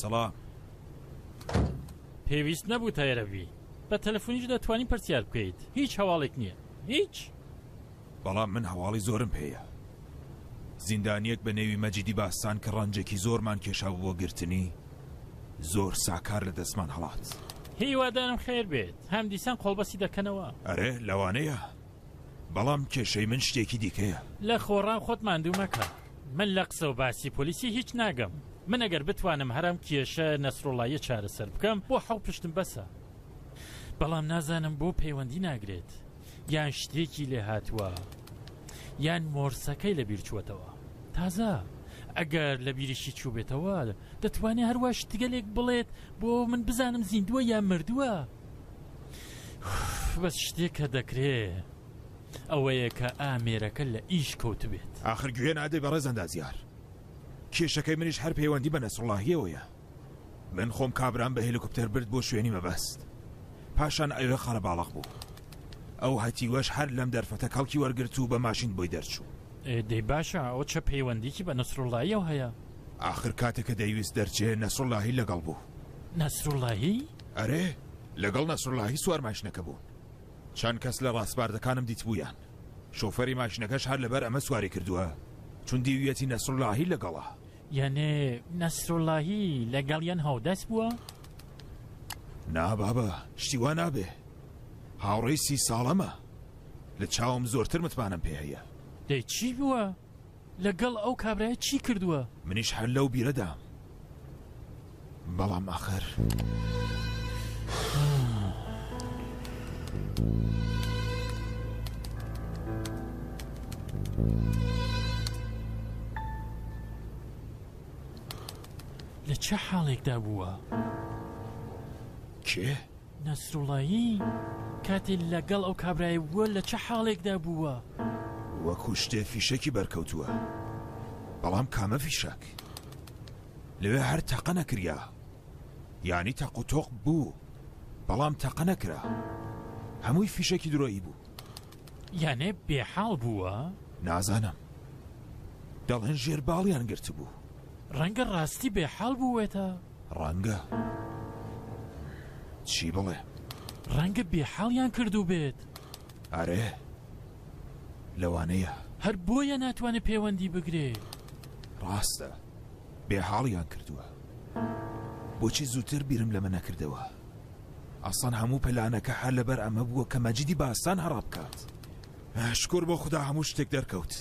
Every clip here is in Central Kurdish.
سەڵام پێویست نەبوو تایرەبی بە تەلەفۆنیش دەتوانین پرسیار بکەیت هیچ هەواڵێک نییە هیچ بەڵام من هەواڵی زۆرم پێیە زیندانیەک بە نێوی مەجیدی باستان کە ڕەنجێکی زۆرمان کێشا بۆ گرتنی زۆر ساکار لە دەستمان هەڵات هیوادارم خێر بێت هەم دیسان قۆڵبەسی دەکەنەوە ئەرێ لەوانەیە بەڵام کێشەی من شتێکی دیکەیە. لە خۆڕا خۆت ماندوو مەکە. من لە قسە و باسی پۆلیسی هیچ ناگەم. من ئەگەر بتوانم هەر ئەم کێشە نەسروڵڵاییە چارەسەر بکەم بۆ حەو پشتم بەسە. بەڵام نازانم بۆ پەیوەندی ناگرێت؟ یان شتێکی لێ هاتووە؟ یان مۆرسەکەی لە بیر چووەتەوە؟ تازە ئەگەر لە بیریشی چووبێتەوە دەتوانێت هەر وا شتگەلێک بڵێت بۆ من بزانم زیندووە یان مردووە؟ بەس شتێک کە دەکرێ ئەوەیە کە ئامێرەکە لە ئیش کەوت بێت آخر گوێ نادەی بەڕێز ئەندازیار کێشەکەی منیش هەر پەیوەندی بە نەسڕڵاهیەوەیە من خۆم کابرام بە هێلیکوپتەر برد بۆ شوێنی مەبەست پاشان ئەوێ قەرە باڵق بوو ئەو هەتیوەش هەر لەم دەرفەتە کەڵکی وەرگرت و بە ماشین بۆی دەرچوو دەی باشە ئەو چە پەیوەندیکی بە نەسرڵایەوە هەیە آخر کاتێکە دەیویست دەرچێ نەسرڵاهی لەگەڵ بوو نەسرڵاهی؟ ئەرێ لەگەڵ نەسروڵڵاهی سوار ماشنەکە بوون چەند کەس لە ڕاسپاردەکانم دیتبوویان شۆفەری ماشنەکەش هەر لەبەر ئەمە سواری کردووە چون دیویەتی نەسروڵڵاهی لەگەڵە یانێ نەسروڵڵاهی لەگەڵیان هاودەست بووە؟ نا بابە شتی وا نابێ هاوڕێی سی ساڵەمە لە چاوم زۆرتر متمانەم پێ هەیە دەی چی بووە؟ لە گەڵ ئەو کابرایە چی کردوە؟ منیش هەر لەو بیرەدام بەڵام ئاخر. لە چ حاڵێکدا بووە؟ کێ؟ نەسروڵایی کاتێ لە گەڵ ئەو کابرایە بووە لە چ حاڵێکدا بووە؟ وەکوو شتێ فیشەکی بەرکەوتووە. بەڵام کامە فیشەک؟ لەوێ هەر تەقە نەکریا. یانی تەق و تۆق بوو بەڵام تەقە نەکرا. هەمووی فیشەکی درۆیی بوو. یانێ بێ حاڵ بووە؟ نازانم. دەڵێن ژێر باڵیان گرتبوو. ڕەنگە ڕاستی بێ حاڵ بووێتە؟ ڕەنگە چی بڵێ؟ ڕەنگە بێحاڵیان کردووبێت. ئەرێ لەوانەیە. هەر بۆیە ناتوانێت پێوەندی بگرێ. ڕاستە بێحاڵیان کردووە. بۆچی زووتر بیرم لەمە نەکردەوە؟ ئەسان هەموو پەلانەکە هەر لەبەر ئەمە بووە کە مەجیدی باسان هەڕا بکات. شکور بۆ خدا هەموو شتێک دەرکەوت.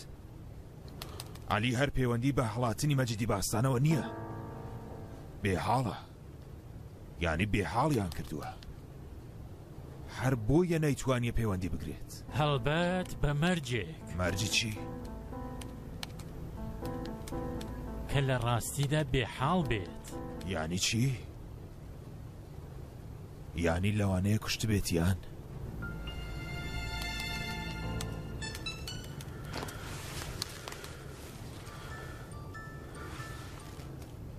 عەلی هەر پەیوەندی بە هەڵاتنی مەجیدی باستانەوە نییە بێ حاڵە یانی بێ حاڵیان کردووە هەر بۆیە نەیتوانیە پەیوەندی بگرێت هەڵبەت بە مەرجێک مەرجی چی؟ کە لە ڕاستیدا بێحاڵ بێت یانی چی؟ یانی لەوانەیە کوشتبێتیان؟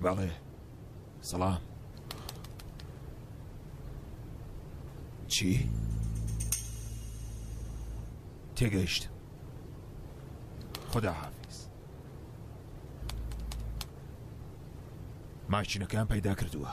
بەڵێ سەڵام چی؟ تێگەیشت خدا حافظ ماشینەکەیان پەیدا کردووە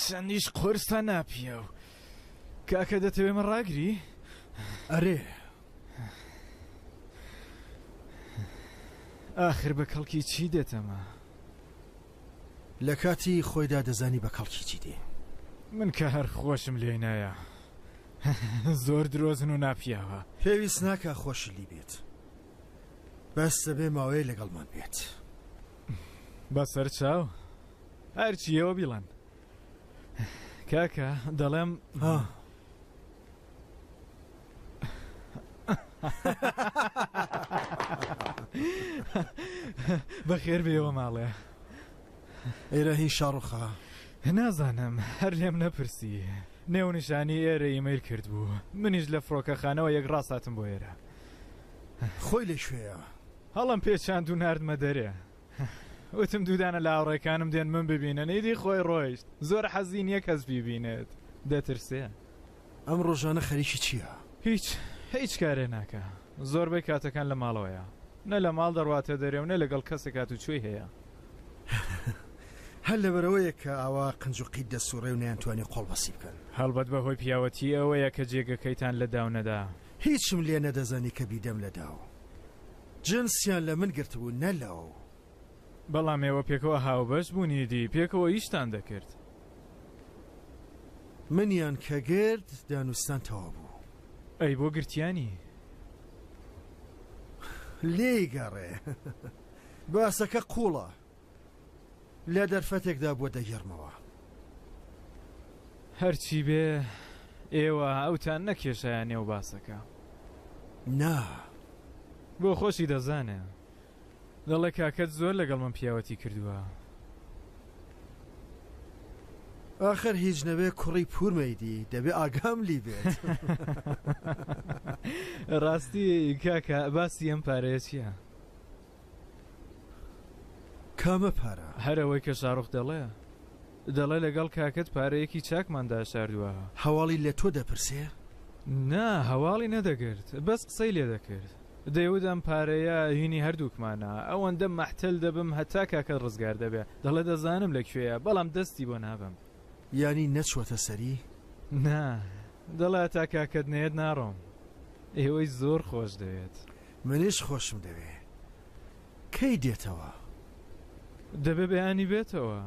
چەندیش قورسە ناپیاو. کاکە دەتەوێ من ڕاگری؟ ئەرێ. ئاخر بە کەڵکی چی دێتەمە؟ لە کاتی خۆیدا دەزانی بە کەڵکی چی دێ. من کە هەر خۆشم لێی نایە. زۆر درۆزن و ناپیاوە. پێویست ناکا خۆشی لی بێت. بەس دەبێ ماوەیە لەگەڵمان بێت. بە سەر چاو؟ هەرچی ئێوە بیڵێن کاکە دەڵێم ها بەخێر بێەوە ماڵێ ئێرە هی شەڕخە نازانم هەر لێم نەپرسی نێونیشانی ئێرە ئیمەیل کرد بوو منیش لە فڕۆکەخانەوە یەک ڕاستاتم بۆ ئێرە خۆی لە شوێە هەڵم پێچاند و نردمە دەرێ وتم دوو دانە لاوڕێکانم دێن من ببینن ئیدی خۆی ڕۆیشت زۆر حەزی نییە کەس بیبینێت دەترسێ. ئەم ڕۆژانە خەریکی چییە؟ هیچ هیچ کارێ ناکا زۆربەی کاتەکان لە ماڵەوەیە نە لە ماڵ دەڕواتە دەرێ و نە لەگەڵ کەسێک هاتوچۆی هەیە. هەر لەبەرئەوەیە کە ئاوا قنج و قیت دەسوڕێ و نەیانتوانی قۆڵبەسی بکەن. هەڵبەت بەهۆی پیاوەتی ئەوەیە کە جێگەکەیتان لە داو نەدا. هیچم لێ نەدەزانی کە بیدەم لە داو. جنسیان لە من گرتبوو نە لەو. بەڵام ئێوە پێکەوە هاوبەش بوون ئیدی پێکەوە ئیشتان دەکرد. منیان کە گرت دانوستان تەواو بوو. ئەی بۆ گرتیانی؟ لێی گەڕێ باسەکە قوڵە. لە دەرفەتێکدا بووە دەگێڕمەوە. هەرچی بێ، ئێوە ئەوتان نەکێشایە نێو باسەکە. نا. بۆ خۆشی دەزانێ. دەڵێ کاکەت زۆر لەگەڵ من پیاوەتی کردووە. ئاخر هیچ نەبێ کوڕی پورمەیدی دەبێ ئاگام لی بێت. ڕاستی کاکە باسی ئەم پارەیە چییە؟ کامە پارە؟ هەر ئەوەی کە شاروخ دەڵێ. دەڵێ لەگەڵ کاکەت پارەیەکی چاکمان داشاردوە. هەواڵی لە تۆ دەپرسێ؟ نا، هەواڵی نەدەگرت، بەس قسەی لێ دەکرد. دەیوت ئەم پارەیە هینی هەردووکمانە، ئەوەندە مەحتەل دەبم هەتا کاکەت ڕزگار دەبێ. دەڵێ دەزانم لە کوێیە، بەڵام دەستی بۆ نابەم. یانی نەچووەتە سەری؟ نا، دەڵێ هەتا کاکەت نەیەت ناڕۆم. ئێوەی زۆر خۆش دەوێت. منیش خۆشم دەوێ کەی دێتەوە؟ دەبێ بەیانی بێتەوە.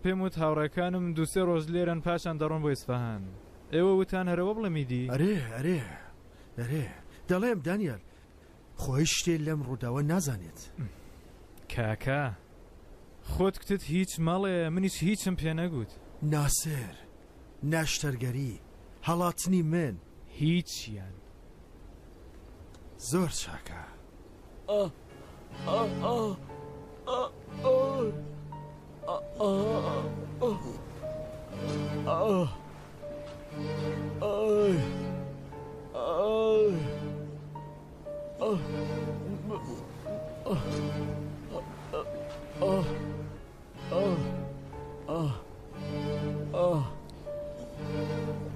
پێم وت هاوڕێکانم دوو سێ ڕۆژ لێرەن پاشان دەڕۆن بۆ ئیسفەهان. ئێوە وتان هەرەوە بڵێ میدی؟ ئەرێ ئەرێ ئەرێ دەڵێم دانیال خۆ هیچ شتێ لەم ڕووداوە نازانێت. کاکە خۆت کتت هیچ مەڵێ منیش هیچم پێ نەگوت. ناسر نەشتەرگەری هەڵاتنی من. هیچیان. زۆر چاکە.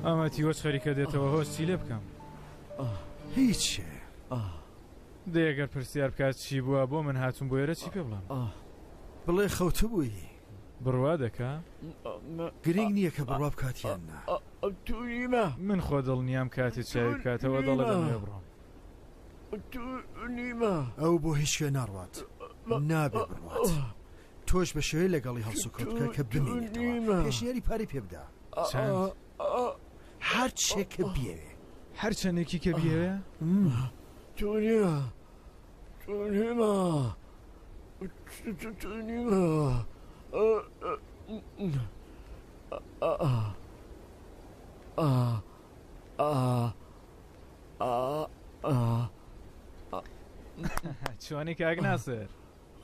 ئەمە تیوەچ خەریکە دێتەوە هۆش چی لێ بکەم هیچ دێگەر پرسیار بکات چی بووە بۆ من هاتون بۆ ێرە چی پێ بڵام بڵێ خەوتە بووی بڕوا دەکە گرنگ نییە کە بڕوا بکاتیان نا تووریمە من خۆ دڵنیام کاتێ چاوی بکاتەوە دەڵێ دەمێ بڕۆم تووریمە ئەو بۆ هیچ شوێ ناڕوات نابێ بڕوات تۆش بە شێوەی لەگەڵی هەڵسوکەوت بکە کە بمێنێتەوە پێشنیاری پارەی پێ بدا هەر چێک کە بیەوێ هەر چەندێکی کە بیەوێ تونیا تونیما تونیما چۆنی کاک ناسر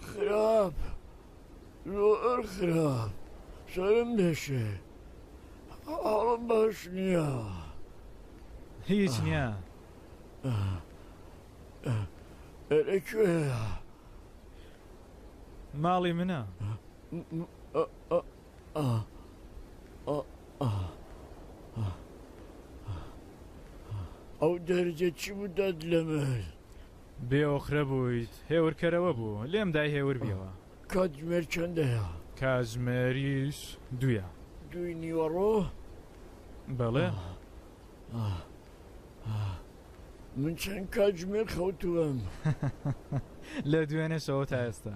خراپ زۆر خراپ سەرم دەشێ حاڵم باش نییە هیچ نییە ئەرە کوێە ماڵی منە ئەو دەرجە چی بدات لە من بێ ئۆقرە بوویت هێور کەرەوە بوو لێم دای هێور بیەوە. کاتژمێر چەندەیە؟ کاتژمێریش دوویە. دووی نیوەڕۆ؟ بەڵێ. من چەند کاتژمێر خەوتووم؟ لە دوێنێ شەوە تا ئێستا.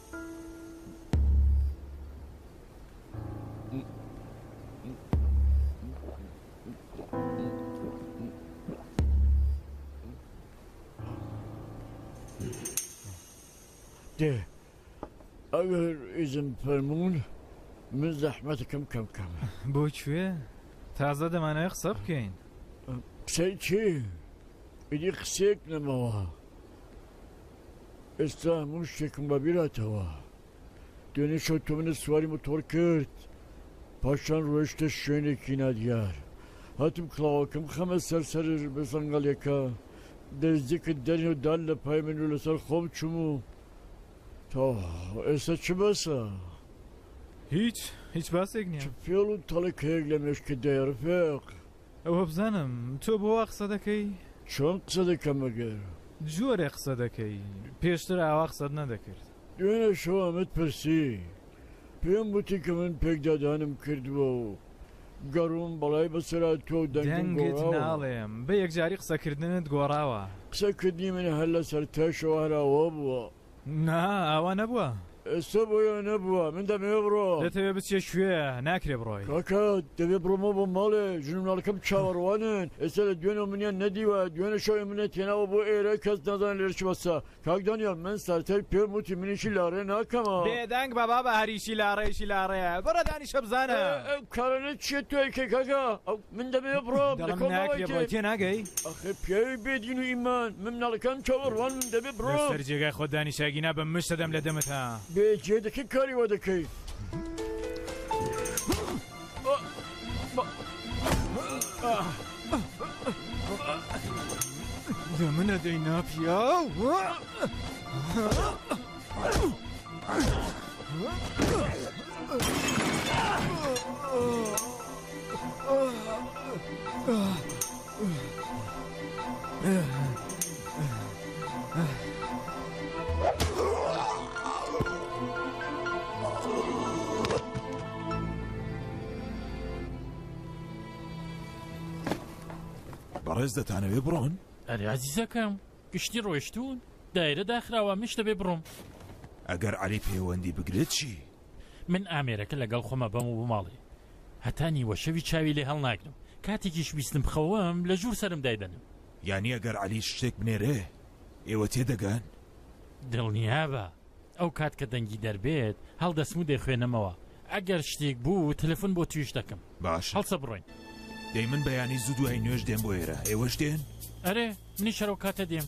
دێ ئەگەر ئیزن فەرمونون من زەحمەتەکەم کەم کەم بۆ کوێ تازە دەمانە قسە بکەین قسەی چی ئیدی قسێک نەمەوە ئێستا هەموو شتێکم بەبیرهاتەوە، دوێنێ شەو تۆ منت سواری متۆڕ کرد، پاشان ڕۆیشتە شوێنێکی نادیار، هاتم کڵاوەکەم بخەمە سەر سەر سەنگەڵیەکە، دەیزیکت دەرهێنا و دا لە پای من و لەسەر خۆم چووم و تەواو، ئێستا چ باسە؟ هیچ، هیچ باسێک نیە. چ فێڵ و تەڵەکەیەک لە مێشکت دایە ڕفێق؟ وەبزانم تۆ بۆ وا قسە دەکەی؟ چۆن قسە دەکەم ئەگەر. جۆرێ قسە دەکەی پێشتر ئاوا قسەت نەدەکرد. دوێنێ شەو ئەمەت پرسی پێم وتی کە من پێکدادانم کردووە و گەڕووم بەڵای بەسەرا تۆ و دەنگم گۆڕاوە. دەنگت ناڵێم بە یەکجاری قسەکردنت گۆڕاوە. قسەکردنی من هەر لەسەر تەشەوە هەر ئاوا بووە. نا ئاوا نەبووە ئێستا بۆیە نەبووە من دەمەوێ بڕۆ دەتەوێ بچێ کوێ ناکرێ بڕۆی کاکە دەبێ بڕۆمە بۆ ماڵێ ژنمناڵەکەم چاوەڕوانن ئێستا لە دوێنەوە منیان نەدیوە دوێنە شەوێ منە تێناوە بۆ ئێرە کەس نازان لێرە چ بەسە کاک دانیال من سەرتای پێم وتی منیشی لاڕێ ناکەمە بێدەنگ بە بابە هەریشی لاڕێیشی لاڕێ بڕە دانیشە بزانە کارانە چیە توێکێ کاکە ئەو من دەمەوێ بڕۆم دەڵێم لەکۆڵ ناکرێ بڕۆی مەوەیتێ تێناگەی ئەخەی پیاوی بێ دین و ئیمان من مناڵەکانم چاوەڕوان من دەبێ لە بڕۆم سەر جێگای خۆت دانیشە گینا بە مشت ئەدەم لە دەمت ها. بێ جێ دەکەی کاری وا دەکەی ئا، با، ئا. دەمنەدەی ناپیاو بەڕێز دەتانەوێ بڕۆن؟ ئەرێ ئازیزەکەم گشتی ڕۆیشتوون دایرە داخراوە مش دەبێ بڕۆم. ئەگەر عەلی پەیوەندی بگرێت چی؟ من ئامێرەکە لەگەڵ خۆمە بەم و بماڵێ هەتا نیوە شەوی چاوی لێ هەڵناگرم کاتێکیش ویستم بخەوم لە ژوور سرم دایدەنم. یانی ئەگەر عەلی شتێک بنێرێ ئێوە تێدەگەن؟ دڵنیابە. ئەو کات کە دەنگی دەربێت هەڵدەسم و دەیخوێنمەوە ئەگەر شتێک بوو تەلەفون بۆ تویش دەکەم باشە هەڵسە بڕۆین. دەی من بەیانی زوو دوای نوێژ دێم بۆ ئێرە ئێوەش دێن؟ ئەرێ منیش هەرەو کاتە دێم.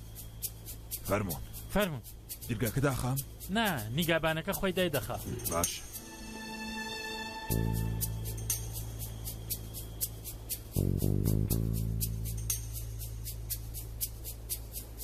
فەرموون. فەرموو. درگاکە داخەم؟ نا نیگابانەکە خۆی دای دەخا. باشە.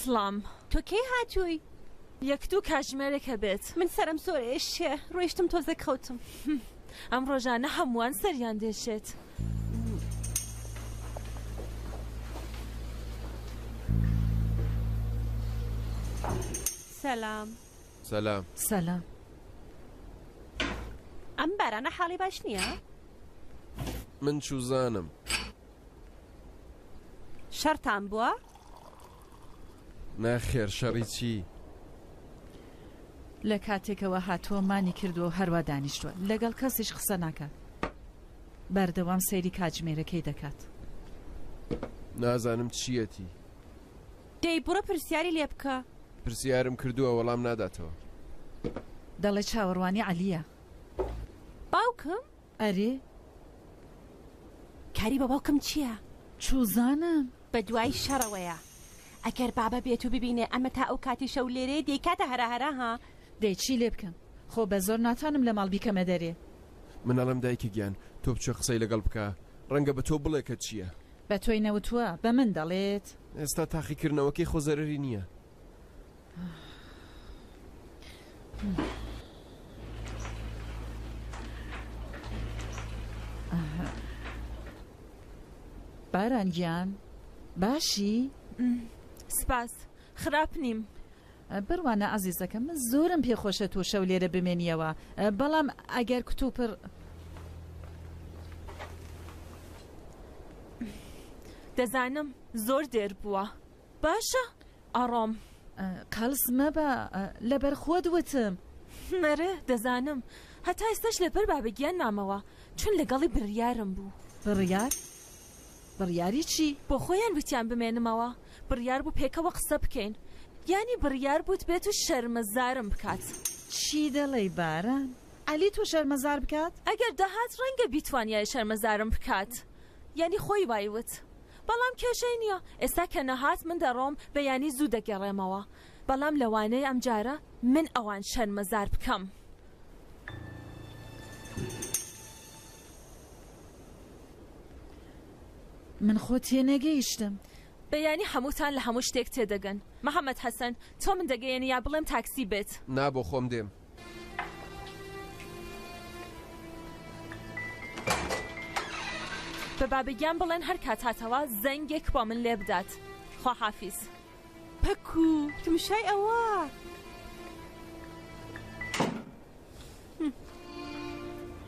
سڵام تۆ کەی هاتووی؟ یەک دوو کاژمێرێک ئەبێت. من سەرم زۆر ئێشێ ڕۆیشتم تۆزێک خەوتم. ئەم ڕۆژانە هەمووان سەریان دێشێت. سەلام. سەلام. سەلام. ئەم بارانە حاڵی باش نییە؟ من چوزانم. شەرتان بووە؟ نەخێر شەڕی چی؟ لە کاتێکەوە هاتووە مانی کردووە و هەروا دانیشتووە لەگەڵ کەسیش قسە ناکات بەردەوام سەیری کاتژمێرەکەی دەکات نازانم چیەتی دەی بڕە پرسیاری لێ بکە پرسیارم کردووە وەڵام ناداتەوە دەڵێ چاوەڕوانی عەلیە باوکم ئەرێ. کاری بە باوکم چیە؟ چوزانم. بە دوای شەڕەوەیە. ئەگەر بابە بێت و ببینێ ئەمە تا ئەو کاتی شەو لێرەیە دەیکاتە هەراهەرا ها. دەی چی لێ بکەم خۆ بە زۆر ناتوانم لە ماڵ بیکەمە دەرێ. من ئەڵێم دایکە گیان تۆ بچە قسەی لەگەڵ بکە ڕەنگە بە تۆ بڵێ کە چیە. بە تۆی نەوتوە بە من دەڵێت؟ ئێستا تاقیکردنەوەکەی خۆ زەرەری نیە. باران گیان باشی سپاس خراپ نیم بڕوانە ئازیزەکە من زۆرم پێخۆشە تۆ شەو لێرە بمێنیەوە بەڵام ئەگەر کتوپڕ دەزانم زۆر دێر بووە باشە ئەڕۆم. قەڵس مەبە لەبەر خۆت وتم. ئەرێ دەزانم هەتا ئێستاش لەبەر بابەگیان مامەوە چون لەگەڵی بڕیارم بوو. بڕیار؟ بڕیاری چی؟ بۆ خۆیان وتیان بمێنمەوە بڕیار بوو پێکەوە قسە بکەین یانی بڕیار بووت بێت و شەرمەزارم بکات. چی دەڵێی باران؟ عەلی تۆ شەرمەزار بکات؟ ئەگەر دەهات ڕەنگە بیتوانیایە شەرمەزارم بکات یانی خۆی وای وت بەڵام کێشەی نیە ئێستا کە نەهات من دەڕۆم بەیانی زوو دەگەڕێمەوە بەڵام لەوانەیە ئەمجارە من ئەوان شەرمەزار بکەم. من خۆ تێنەگەیشتم. بەیانی هەمووتان لە هەموو شتێک تێدەگەن محمد حسن تۆ من دەگەیەنی یا بڵێم تاکسی بێت. نا بۆخۆم دێم. بە بابگیان بڵێن هەر کات هاتەوە زەنگێک بۆ من لێ بدات خواحافیز پەکو تمشای ئەوە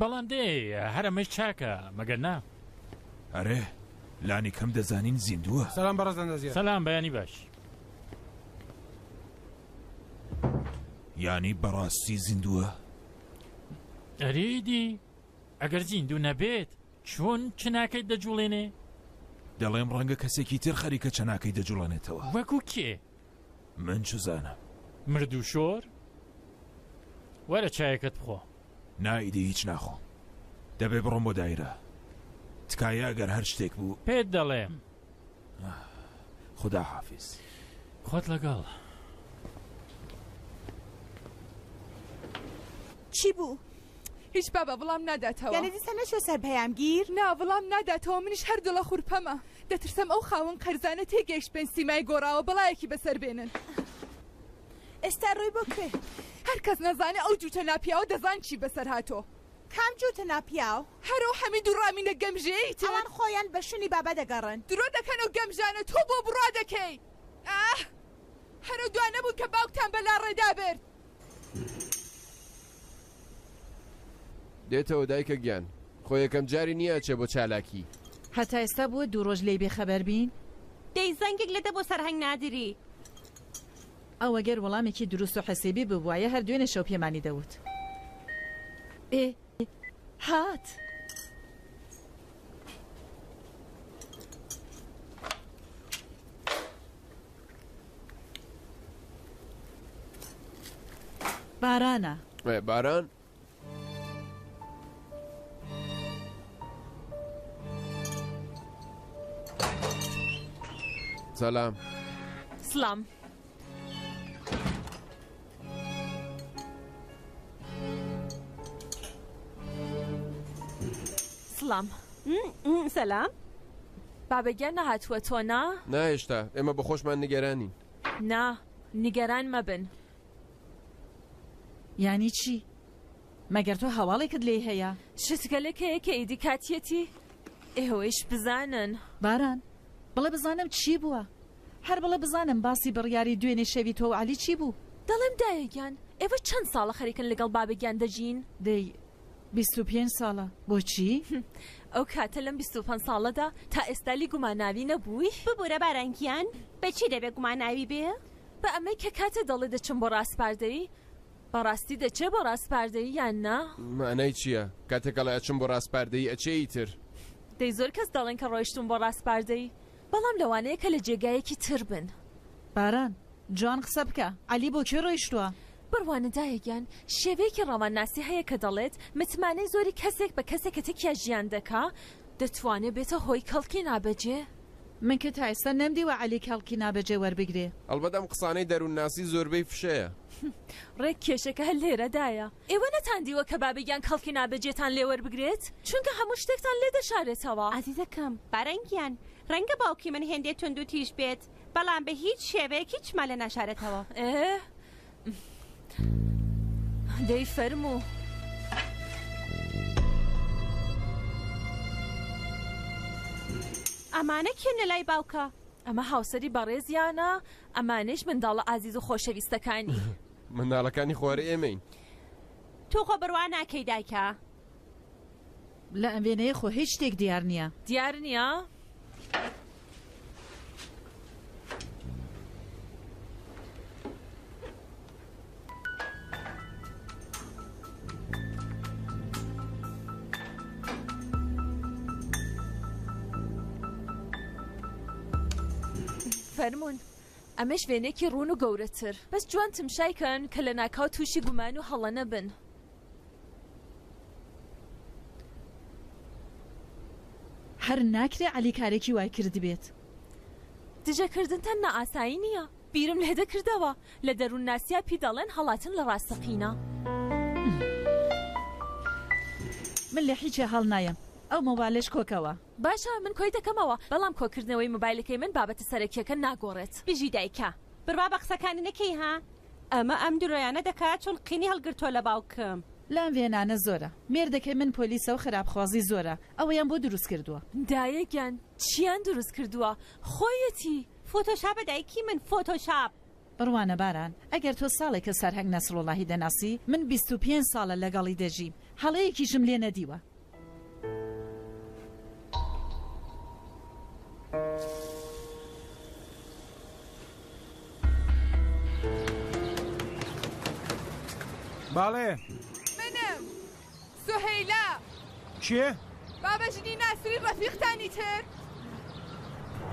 بەڵام دەی هەر ئەمەیش چاکە مەگەر نا؟ ئەرێ لانی کەم دەزانین زیندووە. سەلام بەڕێز ئەندازیار. سەلام بەیانی باش. یانی بەڕاستی زیندووە؟ ئەرێدی ئەگەر زیندوو نەبێت چۆن چناکەیت دەجوڵێنێ؟ دەڵێم ڕەنگە کەسێکی تر خەریکە چەناکەی دەجوڵێنێتەوە. وەکو کێ؟ من چزانم. مردوشۆر؟ وەرە چایەکەت بخۆ. نا ئیدی هیچ ناخۆم. دەبێ بڕۆم بۆ دایرە. تکایە ئەگەر هەر شتێک بوو. پێت دەڵێم. خودا حافیز. خۆت لەگەڵ. چی بوو؟ هیچ بابا بڵام ناداتەوە. یانە دیسە نەچوە سەر پەیامگیر؟ نا بڵام ناداتەوە منیش هەر دڵە خورپەمە. دەترسم ئەو خاوەن قەرزانە تێگەیشت بێن سیمای گۆڕاوە بەڵایەکی بەسەر بێنن. ئێستا ڕۆی بۆ کوێ؟ هەر کەس نەزانێ ئەو جووتە ناپیاوە دەزان چی بەسەر هاتۆ. کام جووتە ناپیاو؟ هەر ئەو حەمید و ڕامینە گەمژەیەی تر. ئەوان خۆیان بە شوونی بابا دەگەڕن. درۆ دەکەن ئەو گەمژانە تۆ بۆ بڕوا دەکەی. ئاه هەر ئەو دوانە بوون کە باوکتان بە لاڕێدا برد. دێتەوە دایکە گیان. خۆ یەکەم جاری نیە ئەچێ بۆ چالاکی. هەتا ئێستا بووە دوو ڕۆژ لێی بێ خەبەر بین؟ دەی زەنگێک لێدە بۆ سەرهەنگ نادری. ئەو ئەگەر وەڵامێکی دروست و حسێبی ببوایە هەر دوێنێ شەو پێمانی دەوت. ئێ هات. بارانە. ئێ باران؟ سلام. سلام. سڵام سەلام بابەگیان نەهاتووە تۆ نا ناهێشتا ئێمە بە خۆشمان نیگەرانین نا نیگەران مەبن یانی چی مەگەر تۆ هەواڵێکت لێ هەیە شتگەلێک هەیە کە ئیدی کاتیەتی ئێوەیش بزانن باران بڵێ بزانم چی بووە هەر بڵێ بزانم باسی بڕیاری دوێنێ شەوی تۆ و عەلی چی بوو؟ دەڵێم دایە گیان ئێوە چەند ساڵە خەریکن لەگەڵ بابە گیان دەژین؟ دەی بیست و پێنج ساڵە بۆچی؟ هه ئەو کاتە لەم بیست و پەنج ساڵەدا تا ئێستا لی گوماناوی نەبووی؟ ببورە باران گیان بە چی دەبێ گوماناوی بێ؟ بە ئەمەی کە کاتێ دەڵێ دەچم بۆ ڕاسپاردەیی بە ڕاستی دەچێ بۆ ڕاسپاردەیی یان نا؟ مانای چییە کاتێک ئەڵێ ئەچم بۆ ڕاسپاردەیی ئەچێ ئیتر؟ دەی زۆر کەس دەڵێن کە ڕۆیشتووم بۆ ڕاسپاردەیی بەڵام لەوانەیە کە لە جێگایەکی تر بن. باران، جوان قسە بکە. عەلی بۆ کوێ ڕۆیشتووە؟ بڕوانە دایە گیان، شێوەیەکی ڕۆمانناسی هەیە کە دەڵێت، متمانەی زۆری کەسێک بە کەسێک کە تەکیا ژیان دەکا، دەتوانێ بێتە هۆی کەڵکی نابەجێ. من کە تا ئێستا نەمدیوە عەلی کەڵکی نابەجێ وەربگرێ. ئەڵبەت ئەم قسانەی دەروونناسی زۆربەی فشەیە. ڕێک کێشەکە هەر لێرەدایە. ئێوە نەتان دیوە کە بابێک یان کەڵکی نابەجێتان لێ وەربگرێت، چونکە هەموو شتێکتان لێ دەشارێتەوە. ئازیزەکەم، باران گیان، ڕەنگە باوکی من هێندێ توندوتیژ بێت، بەڵام بە هیچ شێوەیەک هیچمان لێ ناشارێتەوە. ئێ، دەی فەرموو. ئەمانە کێن لە لای باوکە؟ ئەمە هاوسەری بەڕێزیانە، ئەمانەیش منداڵە ئازیز و خۆشەویستەکانی. منداڵەکانی خوار ئێمەین. تۆ خۆ بڕوا ناکەی دایکە. لە ئەم وێنەیە خۆ هیچ شتێک دیار نییە. دیار نییە؟ فەرموون. ئەمەش وێنەیەکی ڕوون و گەورەتر. بەس جوان تمشای کەن کە لەناکاو تووشی گومان و هەڵە نەبن. هەر ناکرێ عەلی کارێکی وای کردبێت. دژە کردن تەننا ئاسایی نییە. بیرم لێ دەکردەوە. لە دەروونناسیا پی دەڵێن هەڵاتن لە ڕاستەقینە. من لە هیچێ هەڵنایەم. ئەو مۆبالەش کۆکەوە. باشە من کۆی دەکەمەوە بەڵام کۆکردنەوەی مۆبایلەکەی من بابەتە سەرەکیەکە ناگۆڕێت بژی دایکە. بڕوا بە قسەکانی نەکەی ها ئەمە ئەم درۆیانە دەکات چون قینی هەڵگرتوە لە باوکم. لام ڤێنانە زۆرە مێردەکەی من پۆلیسە و خراپ خوازی زۆرە ئەوەیان بۆ دروست کردوە. دایە گیان چیان دروست کردوە خۆیەتی. فۆتۆشاپە دایکی من فۆتۆشاپ. بڕوانە باران، ئەگەر تۆ ساڵێکە سەرهەنگ نەسروڵڵاهی دەناسی، من بیست و پێنج ساڵە لەگەڵی دەژیم، هەڵەیەکیشم لێ نەدیوە. بەڵێ. منم. سوهەیلا. کێ؟ بابە ژنی ناسری ڕەفیقتانی تر.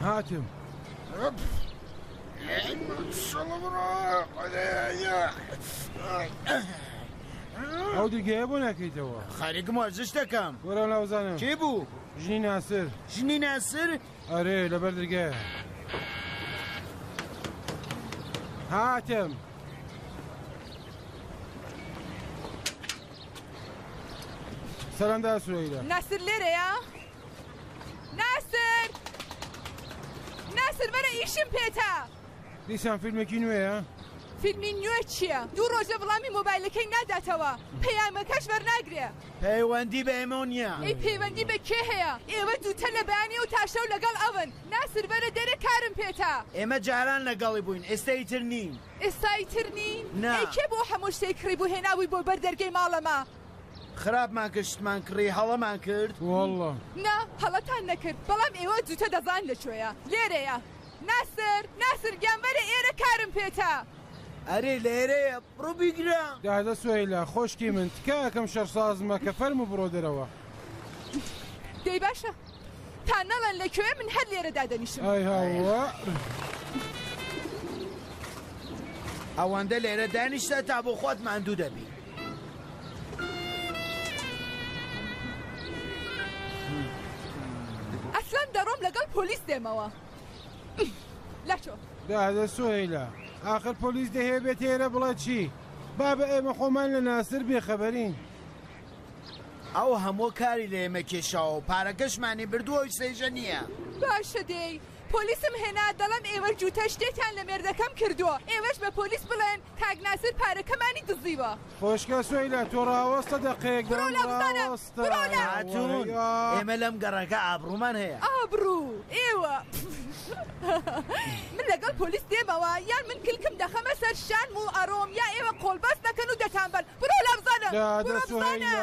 هاتم. ئەو دیگەیە بۆ ناکەیتەوە خەریکم وەرزش دەکەم وەرە ناوزانم چی بوو؟ ژنی ناسر ژنی ناسر ئەرێ لەبەر درگە هاتم سلام دا سویدا ناصر لێرەیە ناصر ناصر بەرە ئیشم پێتا دیسان فیلمێکی نوێە فیلمی نوێ چییە دوو ڕۆژە بڵامی مۆبایلەکەی ناداتەوە پەیامەکەش بەرناگرێ پەیوەندی بە ئێمەو نیە. ئەی پەیوەندی بە کێ هەیە؟ ئێوە دووتە لە بەیانی ئەو تا شەو لەگەڵ ئەون. ناسر بەرە دەرێ کارم پێتە. ئێمە جاران لەگەڵی بووین ئێستا ئیتر نین. ئێستا ئیتر نین؟ نا. ئەی کێ بۆ هەموو شتێک کڕیبوو هێنابووی بۆ بەر دەرگەی ماڵەمە؟ خراپمان کرد شتمان کڕی هەڵەمان کرد؟ وەڵڵە. نا هەڵەتان نەکرد بەڵام ئێوە دووتە دەزانن لە کوێیە. لێرەیە. ناسر! ناسر گیان بەرە ئێرە کارم پێتە. ئەرێ لێرەیە بڕۆ بیگرە. دادە سوهەیلا خۆشکی من تکایە کەم شەر ساز مەکە فەرموو بڕۆ دەرەوە. دەی باشە تا نەڵێن لە کوێ من هەر لێرە دادەنیشم. ئای هاوە. ئەوەندە لێرە دانیشتە تا بۆ خۆت ماندوو دەبی. ئەسلان دەڕۆم لەگەڵ پۆلیس دێمەوە. لەچۆ دادە سوهیلا ئاخر پۆلیس دەهەیە بێت تێرە بڵێ چی با بە ئێمە خۆمان لە ناسر بێخەبەرین ئەو هەموو کاری لە ئێمە کێشاوە پارەکەشمانی بردووە و سێژە نییە باشە دێی پۆلیسم هێنا دەڵێم ئێوە جووتە شتێکیان لە مێردەکەم کردووە ئێوەش بە پۆلیس بڵێن کاک ناسر پارەکەمانی دزیوە. خۆشکە سۆیلە تۆ ڕاوەستە دەقەیەک برۆ لە بزانە برۆ لە هاتوون ئێمە لەم گەڕەکە ئابڕوومان هەیە ئابڕوو ئێوە من لەگەڵ پۆلیس دێمەوە یان من کلکم دەخەمە سەر شان و ئەڕۆم یا ئێوە قۆڵبەست دەکەن و دەتانبەن برۆ لە بزانە برۆ بزانە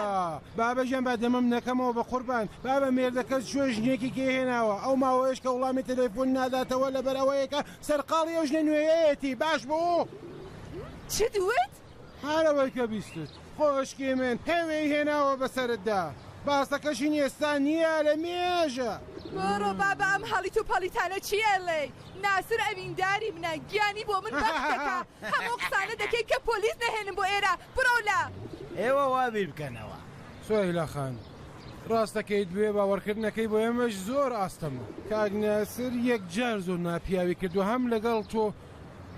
بابەژیان با دەمەم نەکەمەوە بە قوربان بابە مێردەکەت شوێ ژنێکی کێ هێناوە ئەو ماوەیەش کە وڵامی تەلەفۆن ناداتەوە لەبەر ئەوەیەکە سەرقاڵی ئەو ژنە نوێیەیەتی باش بوو؟ چت وت؟ هەر ئەوەی کە بیستت خۆشکی من هێوێی هێناوە بەسەرتدا باسەکە ژنی ئێستا نییە لە مێژە. بڕۆ بابە ئەم هەڵیت و پەڵیتانە چی ئەڵێی ناسر ئەوینداری منە گیانی بۆ من بەخت دەکا هەم ئەو قسانە دەکەی کە پۆلیس نەهێنم بۆ ئێرە بڕۆ لە ئێوە وا بیر بکەنەوە. سوهیلا خان ڕاست دەکەیت بێ باوەڕکردنەکەی بۆ ئێمەش زۆر ئاستەم بوو. کاک ناسر یەکجار زۆر ناپیاوی کردووە هەم لەگەڵ تۆ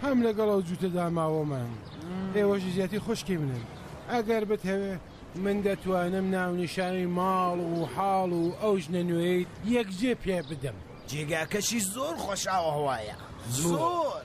هەم لەگەڵ ئەو جووتە داماوەمان ئێوەش زیاتی خوشکی منن ئەگەر بتهەوێ من دەتوانم ناونیشانی ماڵ و حاڵ و ئەو ژنە نوێیت یەکجێ پێ بدەم. جێگاکەشی زۆر خۆشئاوهەوایە زۆر.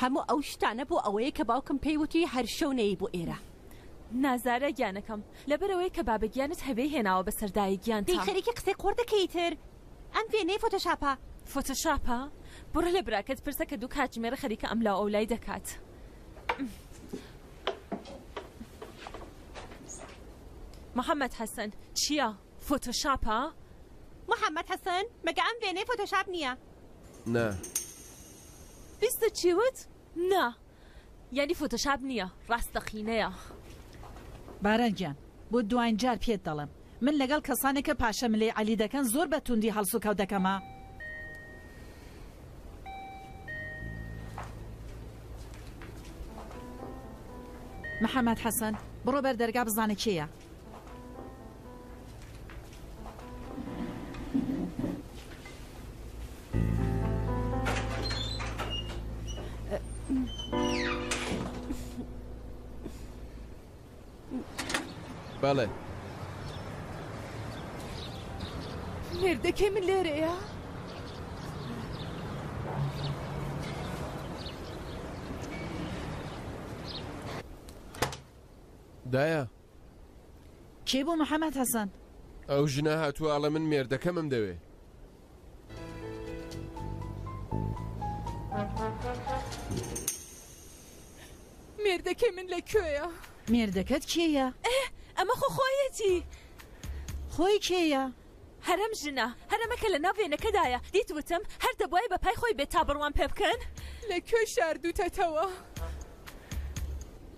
هەموو ئەو شتانە بۆ ئەوەیە کە باوکم پێی وتی هەر شەو نەیی بۆ ئێرە. نا زارا گیانەکەم لەبەرئەوەی کە بابە گیانت هەبێی هێناوە بەسەر دایە گیانتا. دەی خەریکی قسەی قۆڕ دەکەی ئیتر ئەم وێنەیە فۆتۆشاپە. فۆتۆشاپە؟ بڕۆ لە براکەت پرسە کە دوو کاتژمێرە خەریکە ئەملاو ئەولای دەکات. محەمەد حەسەن، چییە؟ فۆتۆشاپە؟ محەمەد حەسەن، مەگە ئەم وێنەیە فۆتۆشاپ نییە؟ نا بیستە چی وت نا یانی فۆتۆشاپ نیە ڕاستەقینەیە. باران گیان بۆ دواین جار پێت دەڵێم من لەگەڵ کەسانێک کە پاشە ملێی عەلی دەکەن زۆر بە توندی هەڵسوکەوت دەکەمە. محمد حسن بڕۆ بەر دەرگا بزانە کێیە. بەڵێ مێردەکەی من لێرەیە؟ دایە. کێ بوو محەمەد حەسەن؟ ئەو ژنە هاتووە ئەڵێ من مێردەکەمم دەوێ. مێردەکەی من لە کوێیە؟ مێردەکەت کێیە؟ ئەمە خۆ خۆیەتی. خۆی کێیە؟ هەرەم ژنە هەرەمە کە لە ناو وێنەکەدایە دیت وتم هەر دەبوایە بە پای خۆی بێت تا بڕوام پێ بکەن. لە کوێ شاردوتەتەوە؟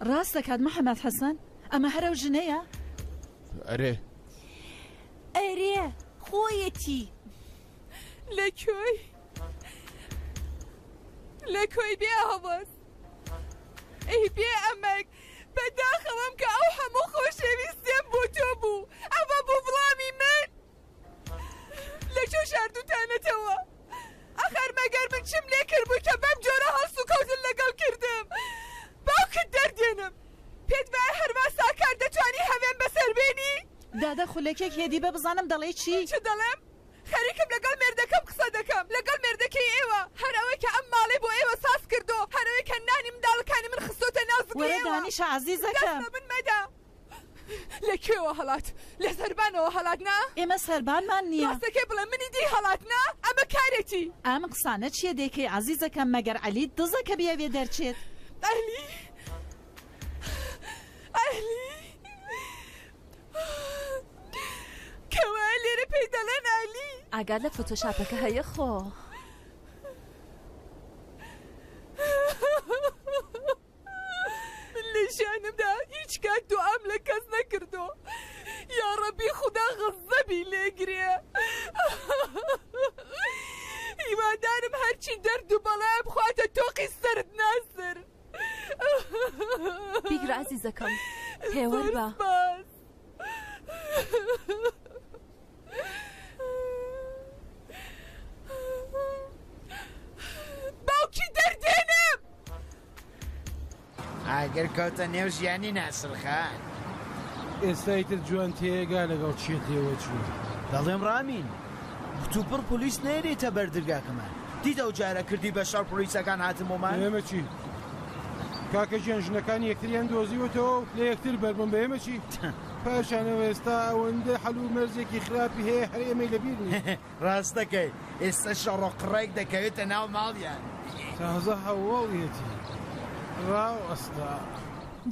ڕاست دەکات محمد حسن ئەمە هەر ئەو ژنەیە؟ ئەرێ. ئەرێ خۆیەتی. لە کوێی؟ لە کوێی بێ ئاواز؟ ئەی بێ ئەمەک؟ بە داخەوەم کە ئەو هەموو خۆشەویستیەم بۆ تۆ بوو ئەوە بوو وڵامی من لە کۆ شاردوتانەتەوە ئەخەر مەگەر من چم لێ کردبووی کە بەم جۆرە هەڵس و کەوتن لەگەڵ کردم باوکت دەردێنم پێت وایە هەروا ساکار دەتوانی هەوێن بەسەر بێنی؟ دادە خولەکێک هێدی بە بزانم دەڵێی چی؟ چ دەڵێم خەریکم لەگەڵ مێردەکەم قسە دەکەم، لەگەڵ مێردەکەی ئێوە، هەر ئەوەی کە ئەم ماڵەی بۆ ئێوە ساز کردو، هەر ئەوەی کە نانی منداڵەکانی من خستۆتە ناو زگی ئێوە. وەرە دانیشە عەزیزەکەم. دەست بە من مەدە. لە کوێوە هەڵات؟ لە سەربانەوە هەڵات نا؟ ئێمە سەربانمان نییە. ڕاستەکەی بڵێ منی دی هەڵات نا؟ ئەمە کارێکی. ئەم قسانە چییە دەیکەی عەزیزەکەم، مەگەر عەلیت دزە کە بیەوێ دەرچێت؟ عەلی. عەلی. کەوا لێرە پێی دەڵێن ئالی ئاگات لە فۆتۆشاپەکە هەیە خۆ لە ژیانمدا هیچ کات دوعام لە کەس نەکردو یا ڕەبی خوددا غەزەبی لێگرێ هیوادارم هەرچی دەرد و بەڵام خواتە تۆقی سرد ناسر بیگرە ئازیزەکەم پێوەر بە باوکی دەردێنم ئاگر کەوتە نێو ژیانی ناسرخە ئێستای تر جوان تێگا لەگەڵ چێتەوە چوو دەڵێم ڕامین کتوپڕ پلیس نێریتە بەردرگاکەمان دیت ئەو جارە کردی بە شەڕ پۆلیسەکان هاتن بۆمان. بە ئێمە چی کاکە گیان ژنەکانی یەکتریان دۆزیوەتەوە و لە یەکتر بەربوون بە ئێمە چی پاشانەوە ئێستا ئەوەندە حەل و مەرزێکی خراپی هەیە هەر ئێمەی لەبیر نییە. ڕاست دەکەیت ئێستا شەڕ و قڕێک دەکەوێتە ناو ماڵیان. تازە هەواڵیەتی ڕاو ئەستا.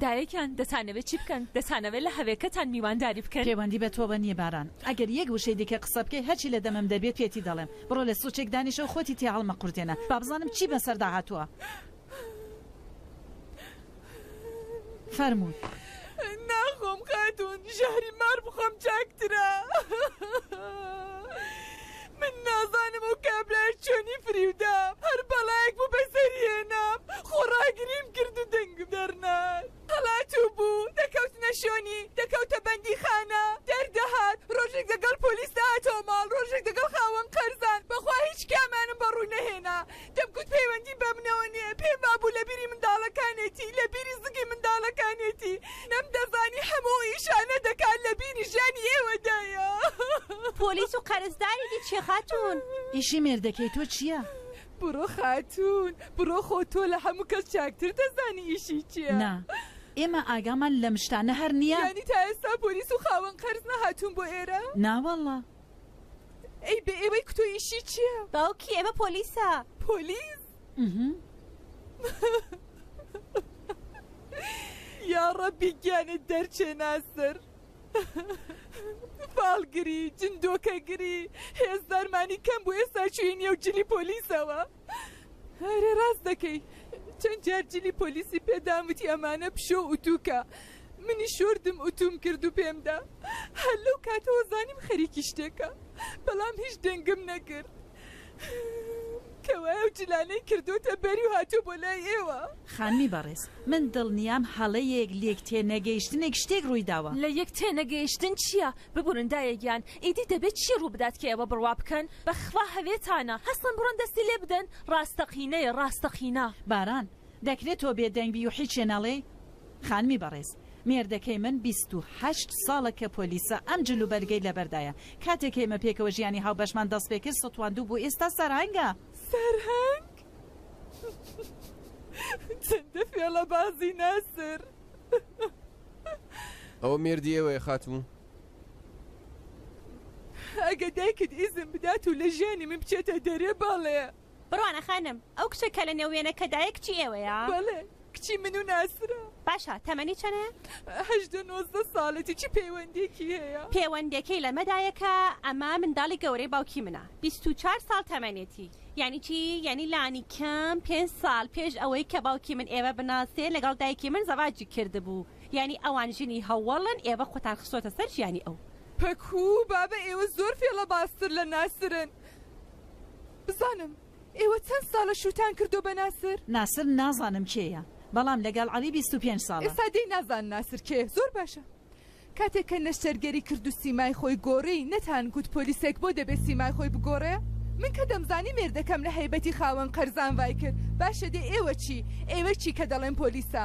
دایەگیان دەتانەوێت چی بکەن؟ دەتانەوێت لە هەوێکەتان میوانداری بکەن؟ پێوەندی بە تۆوە نییە باران. ئەگەر یەک وشەی دیکە قسە بکەی هەرچی لە دەمم دەبێت پێتی دەڵێم. بڕۆ لە سوچێک دانیشە و خۆتی تێ هەڵمەقورتێنە با بزانم چی بەسەردا هاتووە. فەرموو. ناخۆم خاتوون، ژەهری مار بخۆم چاکترە. من نازانم ئەو کابرایە چۆنی فریودام، هەر بەڵایەک بوو بەسەری هێنام، خۆڕاگریم کرد و دەنگم دەرنارد. هەڵاتوو بوو، دەکەوتنە شۆنی، دەکەوتە بەندیخانە، دەردەهات، ڕۆژێک دەگەڵ پۆلیس دەهاتەوە ماڵ، ڕۆژێک دەگەڵ خاوەن قەرزان، بەخوا هیچ کامانم بە ڕووی نەهێنا، دەمگوت پەیوەندی بە منەوە نییە، پێم وابوو لە بیری منداڵەکانێتی، لە بیری زگی منداڵەکانێتی، نەمدەزانی هەموو ئەو ئیشانە دەکات لە بیری ژیانی ئێوەدایە. پۆلیس و قەرزداری دیچی خاتوون؟ ئیشی مێردەکەی تۆ چییە؟ بڕۆ خاتوون بڕۆ خۆ تۆ لە هەموو کەس چاکتر دەزانی ئیشی چیە. نا ئێمە ئاگامان لەم شتانە هەر نیە. یانی تا ئێستا پۆلیس و خاوەن قەرز نەهاتوون بۆ ئێرە؟ نا واللە. ئەی بێ ئێوەی کتۆ ئیشی چیە. باوکی ئێمە پۆلیسە. پۆلیس؟ یاڕەبی گیانت دەرچێ ناسر. باڵگری جن دۆکەگری هێز دارمانی کەم بوو ئێستا چوین یە و جلی پۆلیسەوە هەرێ ڕاست دەکەی چەند جار جلی پۆلیسی پێداموتی ئەمانە پشۆ ئوتووکە منی شۆردم ئوتوم کرد و پێمدا هەر لەو کاتەوە زانیم خەریکی شتێکە بەڵام هیچ دەنگم نەکرد کەوای ئەو جلانەی کردۆتە بەری و هاتوە بۆ لای ئێوە. خانمی بەڕێز من دڵنیام هەڵەیەک لێک تێنەگەیشتنێک شتێک ڕووی داوە. لە یەک تێنەگەیشتن چیە ببورن دایە گیان ئیدی دەبێت چی ڕوو بدات کە ئێوە بڕوا بکەن بەخوا هەوێتانە هەستن بڕۆن دەستی لێ بدەن ڕاستەقینەیە ڕاستەقینە. باران. دەکرێ تۆ بێ دەنگ بی و حیچێ نەڵێی. خانمی بەڕێز مێردەکەی من بیست و هەشت ساڵە کە پۆلیسە ئەم جل و بەرگەی لەبەردایە کاتێک ئێمە پێکەوە ژیانی هاوبەشمان دەست پێ کرد ستواندو بوو ئێستا سەرهەنگە. سەرهەنگ؟ چەندە فێڵەبازی ناسر. ئەوە مێردی ئێوەیە خاتوو؟ ئەگەر دایکت ئیزن بدات و لە ژیانی من بچێتە دەرێ بەڵێ. بڕوانە خانم، ئەو کچە کە لە نێو وێنەکەدایە کچی ئێوەیە؟ بەڵێ، کچی من و ناسرە. باشە، تەمەنی چەنە؟ هەژدە نۆزدە ساڵێتی، چ پەیوەندییەکی هەیە؟ پێوەندییەکەی لەمەدایە کە ئەمە منداڵی گەورەی باوکی منە، بیست و چوار ساڵ تەمەنێتی. یانی چی؟ یانی لانیکەم پێنج ساڵ پێش ئەوەی کە باوکی من ئێوە بناسێ لەگەڵ دایکی من زەواجی کردبوو، یانی ئەوان ژنی هەوەڵن، ئێوە خۆتان خستۆتە سەر ژیانی ئەو. پەکوو، بابە ئێوە زۆر فێڵەبازتر لە ناسرن. بزانم ئێوە چەند ساڵە شووتان کردووە بە ناسر؟ ناسر نازانم کێیە بەڵام لەگەڵ عەلی بیست و پێنج ساڵە. ئێستا دێی نازان ناسر کێیە زۆر باشە کاتێک کە نەشتەرگەری کرد و سیمای خۆی گۆڕی نەتان گوت پۆلیسێک بۆ دەبێ سیمای خۆی بگۆڕێ؟ من کە دەمزانی مێردەکەم لە هەیبەتی خاوەن قەرزان ڤای کرد باشە دێ ئێوە چی ئێوە چی کە دەڵێن پۆلیسە؟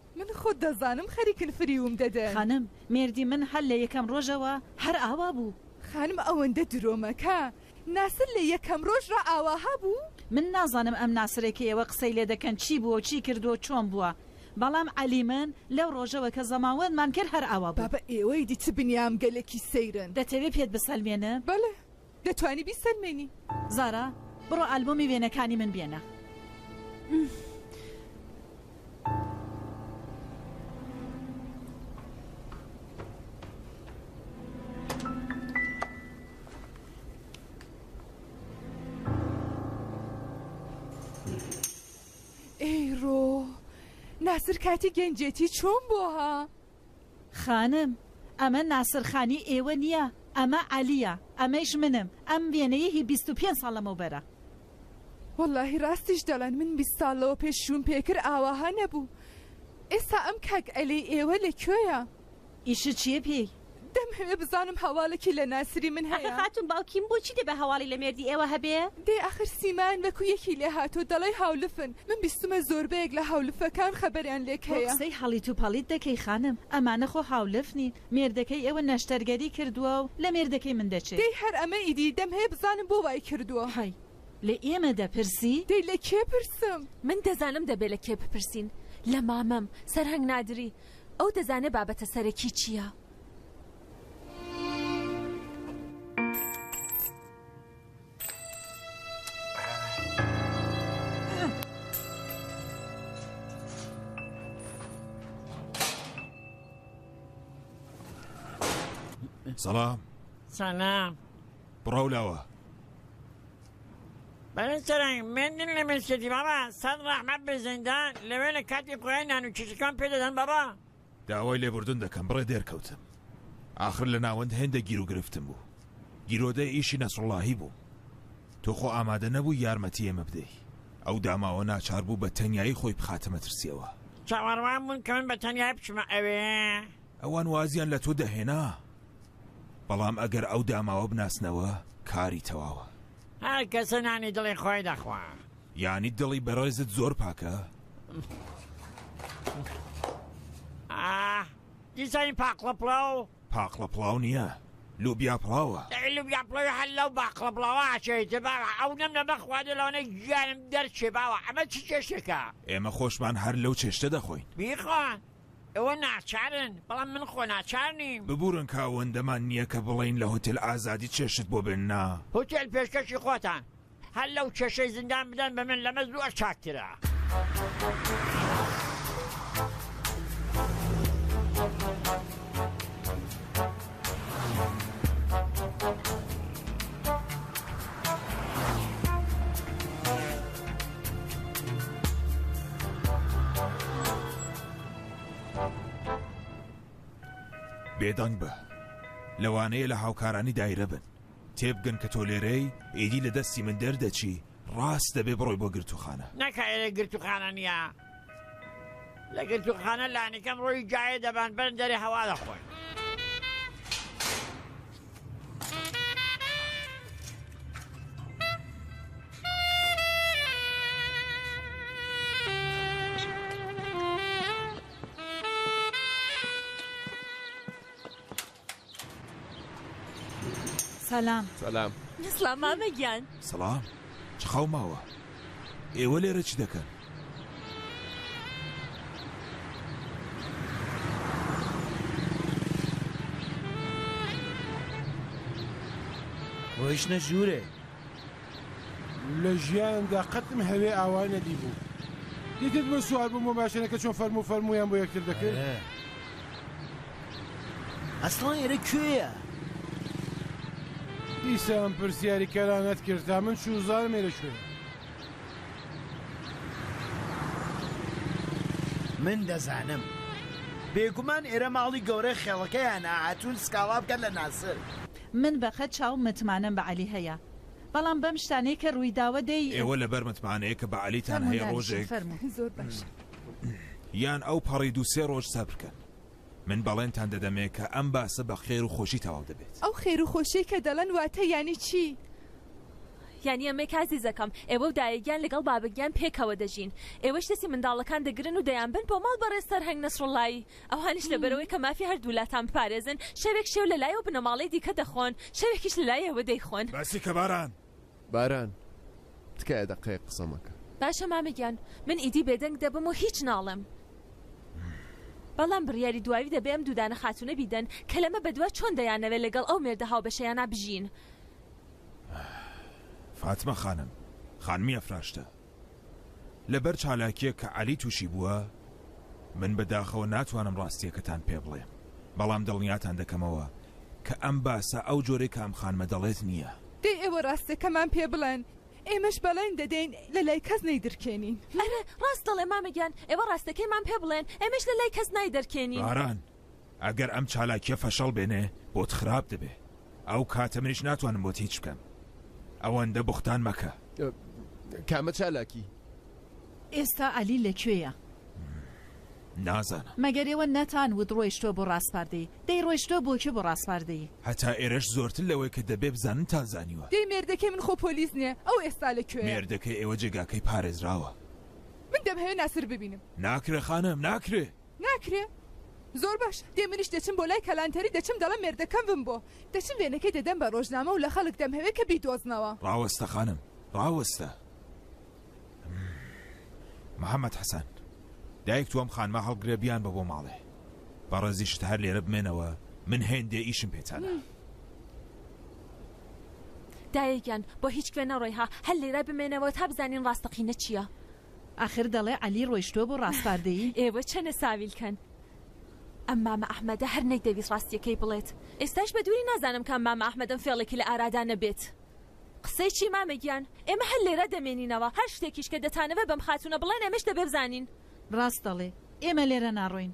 من خۆت دەزانم خەریکن فریوم دەدەن. خانم، مێردی من هەر لە یەکەم ڕۆژەوە هەر ئاوا بوو. خانم، ئەوەندە درۆ مەکە، ناسر لە یەکەم ڕۆژ ڕا ئاواها بوو؟ من نازانم ئەم ناسرەی کە ئێوە قسەی لێ دەکەن چی بووە و چی کردووە و چۆن بووە، بەڵام عەلی من لەو ڕۆژەوە کە زەماوەندمان کرد هەر ئاوا بوو. بابە ئێوەی دی چ بنیامگەلێکی سەیرن. دەتەوێ پێت بسەلمێنم؟ بەڵێ دەتوانی بیسەلمێنی. زارا بڕۆ ئالبۆمی وێنەکانی من بێنە. ئەیڕۆ ناسر کاتی گەنجێتی چۆن بۆها؟ خانم، ئەمە ناسرخانی ئێوە نییە، ئەمە عەلییە، ئەمەیش منم، ئەم وێنەیە هی بیست و پێنج ساڵ لەمەوبەرە. وەڵاهی ڕاستیش دەڵێن، من بیست ساڵ لەوە پێش شووم پێکرد ئاواها نەبوو. ئێستا ئەم کاک عەلیی ئێوە لە کوێیە؟ ئیشت چییە پێی؟ دەمهەوێ بزانم هەواڵێکی لە ناسری من هەیە. ئاخر خاتوون باوکیم بۆچی دەبێ هەواڵی لە مێردی ئێوە هەبێ؟ دەی ئاخر سیمایان وەکوو یەکی لێهاتووە، دەڵێی هاولفن، من بیستمە زۆربەیەک لە هاولفەکان خەبەریان لێک هەیە. بۆ قسەی هەڵیت و پەڵیت دەکەی خانم ئەمانە خۆ هاولف نین مێردەکەی ئێوە نەشتەرگەری کردوە و لە مێردەکەی من دەچێ. دەی هەر ئەمە ئیدی دەم هەیە بزانم بۆ وای کردوە. هەی لە ئێمە دەپرسی؟ دەی لە کێ پرسم؟ من دەزانم دەبێ لە کێ بپرسین لە مامەم سەرهەنگ نادری ئەو دەزانێ بابەتە سەرەکی چیە. سلام سلام بڕاو لاوە بەڵێ سەرنگ مێندن لە مێشێتی بابا سەد ڕەحمەت بێ زەندان لەوێ لە کاتی خۆیان نان و چیشەکان پێ دەدەن بابا داوای لێبوردن دەکەم بڕێ دێرکەوتم ئاخر لە ناوەند هێندە گیرو گرفتم بوو گیرۆدەی ئیشی نەسرڵاهی بوو تۆ خۆ ئامادە نەبوو یارمەتی ئێمە بدەی ئەو داماوە ناچار بوو بە تەنیایی خۆی بخاتە مەترسیەوە چاوەڕوان بوون کە من بە تەنیا بچمە ئەوێ ئەوان وازیان لە تۆ دەهێنا بەڵام ئەگەر ئەو داماوە بناسنەوە کاری تەواوە هەر کەسە نانی دڵی خۆی دەخوا یانی دڵی بەڕێزت زۆر پاکە؟ ئاه دیزاین پاقلە پڵاو. پاقلە پڵاو نیە لوبیا پڵاوە. ئەی لوبیا پڵاوی هەر لەو باقلە پڵاوە ئەچێت باوە ئەو نەم نەمە خواردە لەوانەیە گیانم دەرچێ باوە ئەمە چ چێشتێکە. ئێمە خۆشمان هەر لەو چێشتە دەخۆین. بیخۆ ئێوە ناچارن بەڵام من خۆ ناچار نیم. ببورن کە ئەوەندەمان نیە کە بڵێین لە هۆتێل ئازادی چێشت بۆ بێننە. هۆتێل پێشکەشی خۆتان هەر لەو کێشەی زیندان بدەن بە من لەمە زۆر چاکترە. بێدەنگ بە لەوانەیە لە هاوکارانی دایرە بن. تێبگەن کە تۆ لێرەی، ئیدی لە دەستی من دەردەچی، ڕاست دەبێ بڕۆی بۆ گرتووخانە. نەخێر گرتووخانە نییە، لە گرتووخانە لانیکەم ڕۆیی جاێ دەبەن، بەرن دەرێ هەوا دەخۆن. سەلام سەلام سڵام مامە گیان سەڵام چ خاو ماوە ئێوە لێرە چ دەکەن ڕۆیشتە ژوورێ لە ژیانمدا قەتم هەوێ ئاوا نەدیبوو یەکێک بۆ سوار بووم بۆ ماشێنەکە چۆن فەرموو فەرموویان بۆ یەکتر دەکرد. ئەسڵان ئێرە کوێیە؟ دیسان پرسیاری کەرانەت کرد تا من چوو زارم ئێرە کوێیە. من دەزانم بێگومان ئێرە ماڵی گەورەی خێڵەکەیانە هاتوون سکاڵا بکەن لە ناسر. من بەقەد چاوم متمانەم بە عەلی هەیە بەڵام بەم شتانەی کە ڕوویداوە دەی. ئێوە لەبەر متمانەیە کە بە عەلیتان هەیە ڕۆژێک یان ئەو پەڕی دوو سێ ڕۆژ سەبرکەن من بەڵێنتان دەدەمێ کە ئەم باسە بە خێر و خۆشی تەواو دەبێت. ئەو خێر و خۆشیەی کە دەڵێن واتە یانی چی؟ یانی ئەمەی کە ئازیزەکەم ئێوە و دایەگیان لەگەڵ بابەگیان پێکەوە دەژین ئێوەش دەستی منداڵەکان دەگرن و دەیانبەن بۆ ماڵ بەڕێز سەرهەنگ نەسروڵڵایی ئەوانیش لەبەرئەوەی کە مافی هەردوو لاتان بپارێزن، شەوێک شێو لە لای ئەو بنەماڵەی دیکە دەخۆن، شەوێکیش لە لای ئێوە دەیخۆن. باسی کە باران. باران، تکایە دەقەیەک قسە مەکە. باشە مامە گیان، من ئیدی بێدەنگ دەبم و هیچ ناڵێم. بەڵام بڕیاری دواوی دەبێ ئەم دوودانە خاتوونە بیدەن کە لەمە بەدوا چۆن دەیانەوێ لەگەڵ ئەو مێردە هاوبەشەیانا بژین. فاتمە خانم، خانمی ئەفراشتە. لەبەر چالاکیەک کە عەلی توشی بووە من بە داخەوە ناتوانم ڕاستیەکەتان پێ بڵێم بەڵام دڵنیاتان دەکەمەوە کە ئەم باسە ئەو جۆرەی کە ئەم خانمە دەڵێت نییە. دەی ئێوە ڕاستەکەمان پێ بڵێن ئێمەش بەڵێن دەدەین لە لای کەس نەیدرکێنین. ئەرێ ڕاست دەڵێ مامە گیان ئێوە ڕاستەکەیمان پێ بڵێن ئێمەش لە لای کەس نایدەرکێنین. باران. ئەگەر ئەم چالاکیە فەشەڵ بێنێ بۆت خراپ دەبێ ئەو کاتە منیش ناتوانم بۆت هیچ بکەم ئەوەندە بوختان مەکە کامە چالاکی؟ ئێستا عەلی لە کوێیە؟ نازانم مەگەر ئێوە نەتان وت ڕۆیشتوە بۆ ڕاسپاردەی دەی ڕۆیشتوە بۆ کوێ بۆ ڕاسپاردەی؟ هەتا ئێرەش زۆرتر لەوەی کە دەبێ بزانن تان زانیوە. دەی مێردەکەی من خۆ پۆلیس نیە ئەو ئێستا لە کوێیە؟ مێردەکەی ئێوە جێگاکەی پارێزراوە. من دەمهەوێ ناسر ببینم. ناکرێ خانم ناکرێ ناکرێ؟ زۆر باش، دێ منیش دەچم بۆ لای کەلانتەری دەچم دەڵێم مێردەکەم بم بۆ. دەچم وێنەکەی دەدەم بە ڕۆژنامە و لە خەڵک دەمهەوێ کە بیدۆزنەوە. ڕاوەستە خانم، ڕاوەستە. محەمەد حەسەن، دایک تۆ ئەم خانمە هەڵگرە بیانبە بۆ ماڵێ. بە ڕێزیشت هەر لێرە بمێنەوە، من هێندێ ئیشم پێتانە. دایە گیان، بۆ هیچ کوێ نەڕۆی ها، هەر لێرە بمێنەوە تا بزانین ڕاستەقینە چییە. ئاخر دەڵێ عەلی ڕۆیشتوە بۆ ڕاسپاردەیی. ئێوە چەنە ساویلکەن. ئەم مامە ئەحمەدە هەر نەیدەویست ڕاستیەکەی بڵێت ئێستاش بە دووری نازانم کام مامە ئەحمەدەم فێڵێکی لە ئارادا نەبێت. قسەی چی مامە گیان ئێمە هەر لێرە دەمێنینەوە هەر شتێکیش کە دەتانەوێ بەم خاتوونە بڵێن ئێمەش دەبێ بزانین. ڕاست دەڵێ ئێمە لێرە ناڕۆین.